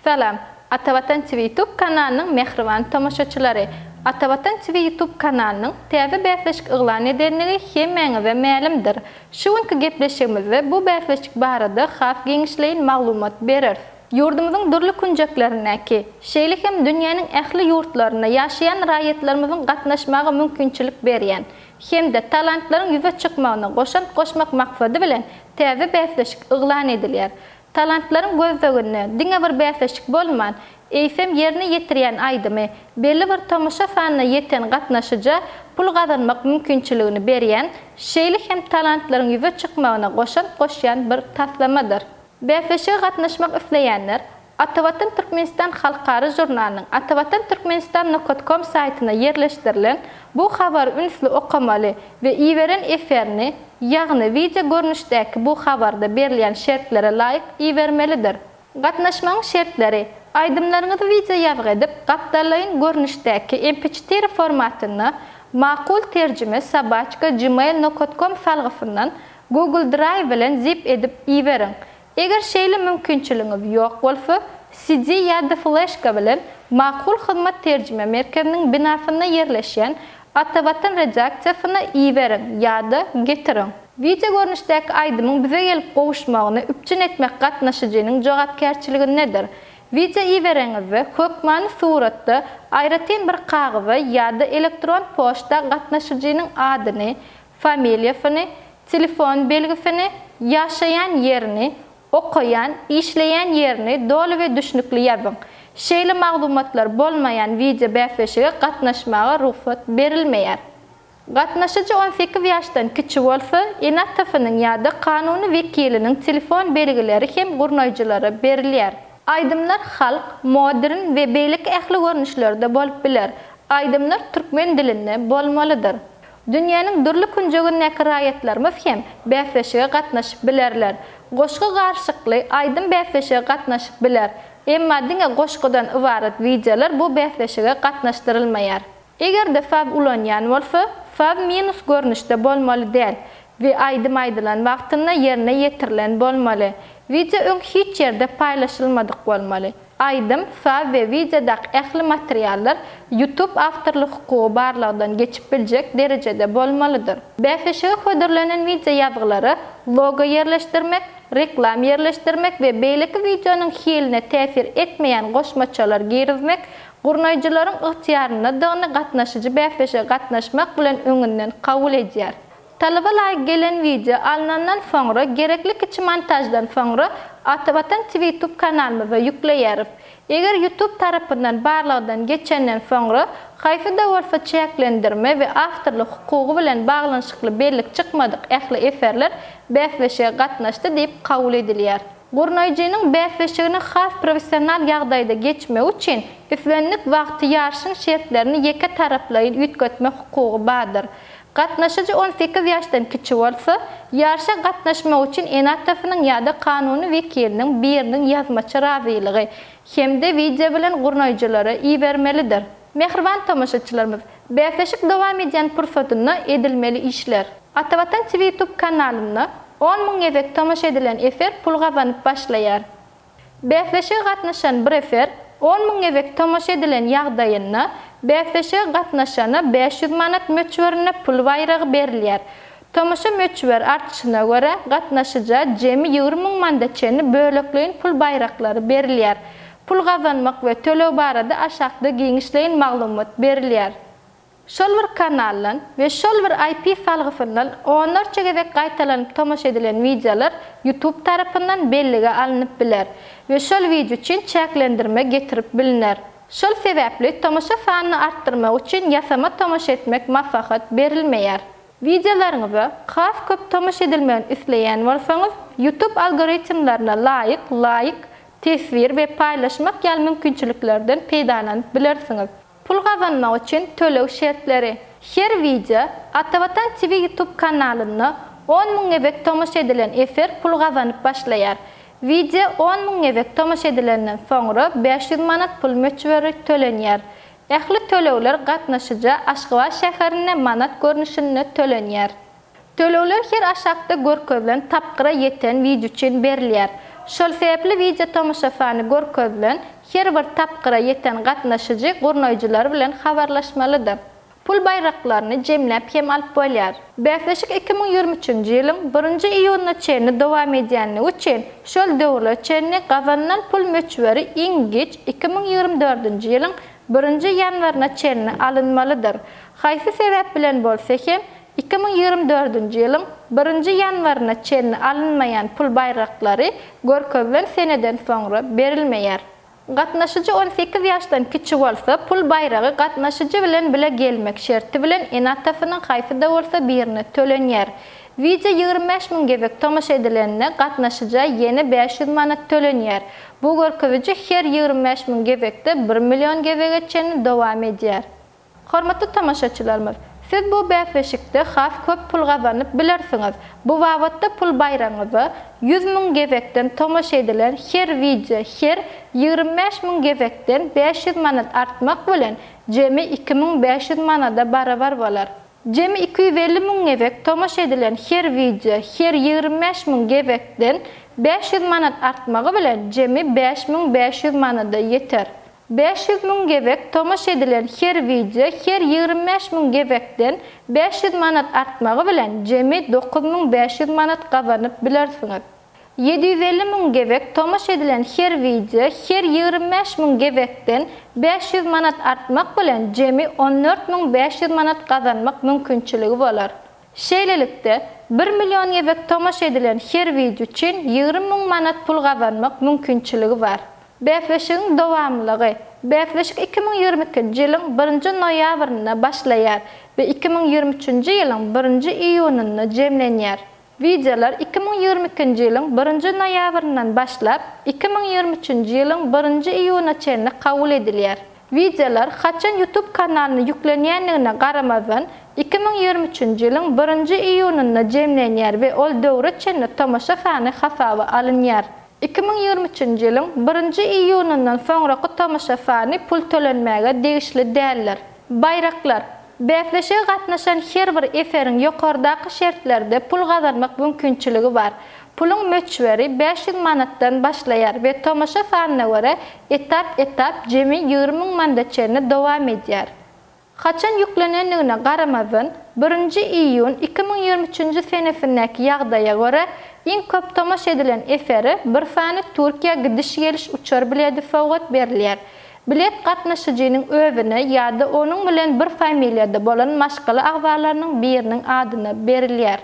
Salam, Atavatan TV YouTube kanalynyň mähriban tomaşaçylary! Atavatan TV YouTube kanalynyň täze bäsleşik yglan edendigi hemmäňize mälimdir. Şu günki gepleşigimizde bu bäsleşik barada has giňişleýin maglumat bereris. Ýurdumyzyň dürli künjeklerindäki, şeýle hem dünýäniň ähli ýurtlarynda ýaşaýan raýatlarymyzyň gatnaşmaga mümkinçilik berýän hem-de talantlaryň ýüze çykmagyna goşant goşmak maksady bilen täze bäsleşik yglan edilýär. Talantlaryň gözleginde diňe bir bäsleşik bolman, eýsem ýerine ýetirýän aýdymy belli bir tomaşa sanyna ýeten gatnaşyja pul gazanmak mümkinçiligini berýän, şeýle hem talantlaryň ýüze çykmagyna goşant goşýan bir taslamadyr. Bäsleşige gatnaşmak isleýänler Atavatan Türkmenistan halkara žurnalynyň atavatanturkmenistan nokat kom saýtyna ýerleşdirilen bu habary ünsli okamaly we iberen eserini, ýagny wideo görnüşdäki bu habarda berilýän şertlere laýyk ibermelidir. Gatnaşmagyň şertleri, Aýdymlaryňyzy wideo ýazgy edip, gapdallaýyn görnüşdäki mp-çetiri formatynda Makul terjime sobaçka gmail nokat kom salgysyndan Google Drive bilen zip edip iberiň. Eger şeýle mümkinçiligiňiz ýok bolsa, CD ýa-da fleşka bilen Makul Hyzmat terjime merkeziniň binasynda ýerleşýän Atavatan redaksiýasyna iberiň ýa-da getiriň. Wideo görnüşdäki aýdymyň bize gelip gowuşmagyny üpjün etmek gatnaşyjynyň jogapkärçiligindedir. Wideo ibereňizde, hökmany suratda, aýratyn bir kagyza ýa-da elektron poçta gatnaşyjynyň adyny, familiýasyny, telefon belgisini, ýaşaýan ýerini, okaýan, işleýän ýerini doly we düşnükli ýazyň. Şeýle maglumatlar bolmaýan wideo bäsleşige gatnaşmaga rugsat berilmeýär. Gatnaşyjy on sekiz ýaşdan kiçi bolsa, ene-atasynyň ýa-da kanuny wekiliniň telefon belgileri hem gurnaýjylara berilýär. Aýdymlar halk, modern we beýleki ähli görnüşlerde bolup biler. Aýdymlar türkmen dilinde bolmalydyr. Dünýäniň dürli künjegindäki raýatlarymyz hem bäsleşige gatnaşyp bilerler. Goşgy garyşykly, aýdym bäsleşige gatnaşyp biler. Emma diňe goşgudan ybarat wideolar bu bäsleşige gatnaşdyrylmaýar. Eger-de saz ulanýan bolsa, saz minus görnüşde bolmaly däl we aýdym aýdylan wagtynda ýerine ýetirilen bolmaly. Wideo öň hiç ýerde paýlaşylmadyk bolmaly. Aýdym, saz we wideodaky ähli materiallar YouTube awtorlyk hukugy barlagdan geçip biljek derejede bolmalydyr. Bäsleşige hödürlenen wideo ýazgylara logo ýerleşdirmek, reklam ýerleşdirmek we beýleki wideonyň hiline täsir etmeýän goşmaçalar girizmek gurnaýjylaryň ygtyýaryndadygyny gatnaşyjy bäsleşige gatnaşmak bilen öňünden kabul edýär. Talaba laýyk gelen wideo alnandan soňra gerekli kiçi montaždan soňra Atavatan Twitube kanalymyza ýükleýäris. Eger Ýutub tarapyndan barlagdan geçenden soňra haýsy-da bolsa çäklendirme we awtorlyk hukugy bilen baglanyşykly bellik çykmadyk ähli eserler bäsleşige gatnaşdy diýip kabul edilýär. Gurnaýjynyň bäsleşigini has professional ýagdaýda geçmegi üçin islendik wagty ýaryşyň şertlerini ýeke taraplaýyn üýtgetme hukugy bardyr. Gatnaşyjy on sekiz ýaşdan kiçi bolsa, ýaryşa gatnaşmak üçin ene-atasynyň ýa-da kanuny wekiliniň biriniň ýazmaça razylygy hem-de wideo bilen gurnaýjylara ibermelidir. Mähriban tomaşaçylarymyz, bäsleşik dowam edýän pursatynda edilmeli işler. Atavatan TV Tube kanalynda on müň gezek tomaşa edilen eser pul gazanyp başlaýar. Bäsleşige gatnaşan bir eser on müň gezek tomaşa edilen ýagdaýynda bäsleşige gatnaşana bäş ýüz manat möçberinde pul baýragy berilýär. Tomaşa möçber artyşyna görä, gatnaşyja jemi ýigrimi müň manda çenli bölekleýin pul baýraklary berilýär. Pul gazanmak we töleg barada aşakda giňişleýin maglumat berilýär. Şol bir kanaldan we şol bir IP salgysyndan onlarça gezek gaýtalanyp tomaşa edilen wideolar YouTube tarapyndan bellige alnyp biler we şol wideo üçin çäklendirme getirip bilner. Şol sebäpli tomaşa sanyny artdyrmak üçin ýasama tomaşa etmek maslahat berilmeýär. Wideolaryňyza has köp tomaşa edilmegini isleýän bolsaňyz, YouTube algoritmlerine laýyk laýk, teswir we paýlaşmak ýaly mümkinçiliklerden peýdalanyp bilersiňiz. Pul gazanmak üçin töleg şertleri. Her wideo Atavatan TV YouTube kanalynda on müň gezek tomaşa edilen eser pul gazanyp başlaýar. Wideo on müň gezek tomaşa edilenden soňra bäş ýüz manat pul möçberi tölenýär. Ähli tölegler gatnaşyja Aşgabat şäherinde manat görnüşinde tölenýär. Tölegler her aşakda görkezilen tapgyra ýeten wideo üçin berilýär. Şol sebäpli wideo tomaşa sany görkezilen her bir tapgyra ýeten gatnaşyjy gurnaýjylar bilen habarlaşmalydyr. Pul baýraklaryny jemläp hem alyp bolýar. Bäsleşik iki müň ýigrimi üçünji ýylyň birinji iýunyna çenli dowam edýänligi üçin şol döwürlere çenli gazanylan pul möçberi iň giç iki müň ýigrimi dördünji ýylyň birinji ýanwaryna çenli alynmalydyr. Haýsy sebäp bilen bolsa hem Iki müň ýigrimi dördünji ýylyň birinji ýanwaryna çenli alynmaýan pul baýraklary görkezilen seneden soňra berilmeýär. Gatnaşyjy on sekiz ýaşdan kiçi bolsa, pul baýragy gatnaşyjy bilen bile gelmek şerti bilen ene-atasynyň haýsy-da bolsa birine tölenýär. Wideo ýigrimi bäş müň gezek tomaşa edilende, gatnaşyja ýene bäş ýüz manat tölenýär. Bu görkeziji her ýigrimi bäş müň gezekde bir million gezege çenli dowam edýär. Hormatly tomaşaçylarymyz, siz bu bäsleşikde has köp pul gazanyp bilersiňiz. Bu babatda pul baýragyňyza ýüz müň gezekden tomaşa edilen her wideo her ýigrimi bäş müň gezekden bäş ýüz manat artmak bilen, jemi iki müň bäş ýüz manada barabar bolar. Jemi iki ýüz elli müň gezek tomaşa edilen her wideo her ýigrimi bäş müň gezekden bäş ýüz manat artmagy bilen, jemi bäş müň bäş ýüz manada ýeter. Bäş ýüz müň gezek tomaşa edilen her wideo her ýigrimi bäş müň gezekden bäş ýüz manat artmagy bilen jemi dokuz müň bäş ýüz manat gazanyp bilersiňiz. Ýedi ýüz elli müň gezek tomaşa edilen her wideo her ýigrimi bäş müň gezekden bäş ýüz manat artmak bilen jemi on dört müň bäş ýüz manat gazanmak mümkinçiligi bolar. Şeýlelikde, bir million gezek tomaşa edilen her wideo üçin ýigrimi müň manat pul gazanmak mümkinçiligi bar. Bäsleşigiň dowamlylygy Bäsleşik iki müň ýigrimi ikinji ýylyň birinji noýabrynda başlaýar we iki müň ýigrimi üçünji ýylyň birinji iýunynda jemlenýär. Wideolar iki müň ýigrimi ikinji ýylyň birinji noýabryndan başlap, iki müň ýigrimi üçünji ýylyň birinji iýunyna çenli kabul edilýär. Wideolar haçan YouTube kanalyna ýüklenýändigine garamazdan, iki müň ýigrimi üçünji ýylyň birinji iýunynda jemlenýär we ol döwre çenli tomaşa sany hasaba alynýar. Iki müň ýigrimi üçünji ýylyň birinji iýunyndan soňraky tomaşa sany pul tölenmäge degişli däldir. Baýraklar. Bäsleşige gatnaşan her bir eseriň ýokardaky şertlerde pul gazanmak mümkinçiligi bar. Puluň möçberi bäş ýüz manatdan başlaýar we tomaşa sanyna görä etap-etap jemi ýigrimi müň manda çenli dowam edýär. Haçan ýüklenendigine garamazdan, birinji iýun iki müň ýigrimi üçünji senesindäki ýagdaýa görä, iň köp tomaşa edilen esere bir sany Türkiýä gidiş-geliş uçar biledi sowgat berilýär. Bilet gatnaşyjynyň özüne ýa-da onuň bilen bir familiýada bolan maşgala agzalarynyň biriniň adyna berilýär.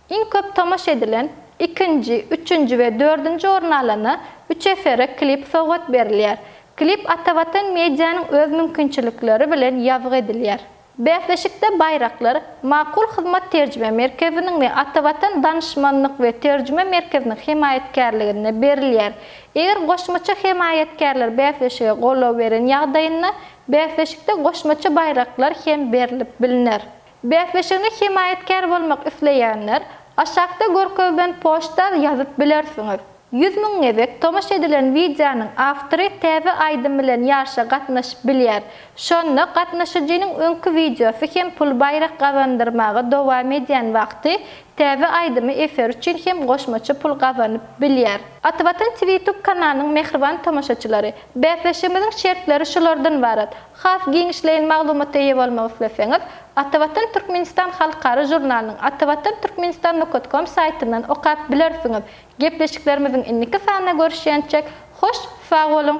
Iň köp tomaşa edilen, ikinji, üçünji we dördünji orny alana üç esere klip sowgat berilýär. Klip Atavatan Media-nyň öz mümkinçilikleri bilen ýazgy edilýär. Bäsleşikde baýraklar Makul hyzmat terjime merkeziniň we Atavatan danyşmanlyk we terjime merkeziniň hemaýatkärliginde berilýär. Eger goşmaça hemaýatkärler bäsleşige goldaw beren ýagdaýynda, bäsleşikde goşmaça baýraklar hem berlip bilner. Bäsleşigine hemaýatkär bolmak isleýänler aşakda görkezilen poçta ýazyp bilersiňiz. Ýüz müň gezek tomaşa edilen wideonyň awtory täze aýdym bilen ýaryşa gatnaşyp bilýär. Şonda gatnaşyjynyň öňki wideosy hem pul baýrak gazandyrmaga dowam edýän wagty täze aýdymy eser üçin hem goşmaça pul gazanyp bilýär. Atawatan TV Tube kanalynyň mähriban tomaşaçylary! Bäsleşigimiziň şertleri şulardan ybarat, Has giňişleýin maglumata eýe bolmak isleseňiz, Atavatan Türkmenistan halkara žurnalynyň atavatan-turkmenistan nokat kom saýtyndan okap bilersiňiz. Gepleşiklerimiziň indiki sanynda görüşýänçäk, hoş sag boluň!